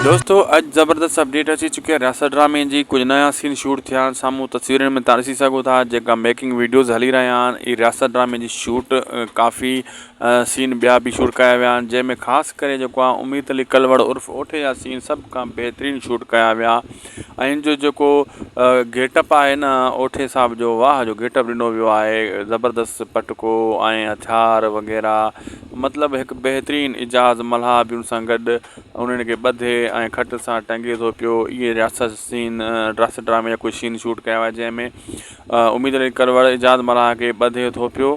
دوستو اڄ زبردست اپڊيٽ اچي چڪي آهي رياست ڊرامي جي ڪجهه نيا سين شوٽ ٿيا آهن سامهون تصويرن ۾ تارسي سگهو ٿا جيڪا ميڪنگ ويڊيوز هلي رهيا آهن هي رياست ڊرامي جي شوٽ ڪافي سين ٻيا به شوٽ ڪيا ويا آهن جنهن ۾ خاص ڪري جيڪو آهي اميد علي ڪلوڙ عرف اوٺي جا سين سڀ کان بهترين شوٽ ڪيا ويا ۽ ان جو جيڪو گيٽ اپ آهي نه اوٺي صاحب جو واه جو گيٽ اپ ڏنو ويو آهي زبردست پٽڪو ۽ هٿيار وغيره مطلب هڪ بهترين اعجاز ملها به ان سان گڏ انهن کي ٻڌي ۽ کٽ سان ٽنگي ٿو پيو اهي رياست سين رياست ڊرامي جا ڪجهه سين شوٽ ڪيا ويا جنهن ۾ اميد علي ڪلوڙ اعجاز ملها کي ٻڌي ٿو پيو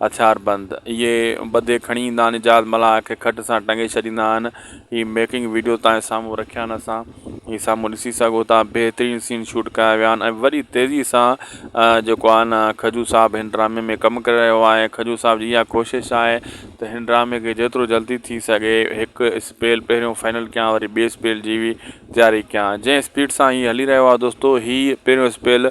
هٿيار بند اهي ٻڌي کڻي ايندا آهن اعجاز ملاح کي کٽ سان ٽنگي ڇڏيندا آهن هي ميڪنگ وڊيو توهان سامهون رکيا آهن اسان هي سامهون ڏسي سگهو ٿا بهترين سين شوٽ ڪيا ويا آهن ۽ وڏي تيزي سان جيڪو آهي نه کجو صاحب هن ڊرامي ۾ ڪم ڪري رهيو آهي کجو صاحب جي اها ڪوشش آهي ته هن ڊرامي کي جيترو جلدي ٿي سگهي هڪ اسپيل پهريون فائنل ڪيان وري ٻي اسپيل جي تياري ڪيان جنهن اسپيڊ سان هي هلي رهيو آهي دوستو هي پهريون اسپيل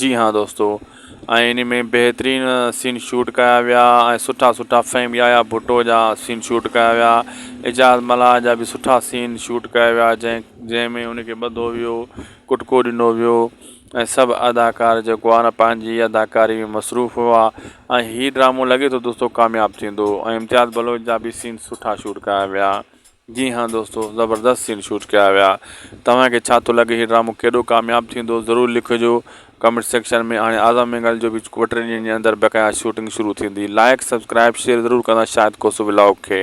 جي ھان دوستو ۽ انھي ۾ بهترين سين شوٽ ڪيا ويا ۽ سٺا سٺا فھيم يايا ڀٽو جا سين شوٽ ڪيا ويا اعجاز ملاح جا به سٺا سين شوٽ ڪيا ويا جنھن جنھن ۾ ان کي ٻڌو ويو ڪٽڪو ڏنو ويو ۽ سڀ اداڪار جيڪو آ نه پنھنجي اداڪاري ۾ مصروف ھئا ۽ ھي ڊرامو لڳي ٿو دوستو ڪامياب ٿيندو ۽ امتياز بلوچ جا به سين سٺا شوٽ ڪيا ويا جي ھان دوستو زبردست سين شوٽ ڪيا ويا توھان کي ڇا ٿو لڳي ھي ڊرامو ڪيڏو ڪامياب ٿيندو ضرور لکجو ڪمينٽ سيڪشن ۾ ھاڻي اعظم مينگل جو به ٻه ٽي ڏينھن جي اندر بقايا شوٽنگ شروع ٿيندي لائيڪ سبسڪرائيب شيئر ضرور ڪندا شاھد ڪوسو ولاگ کي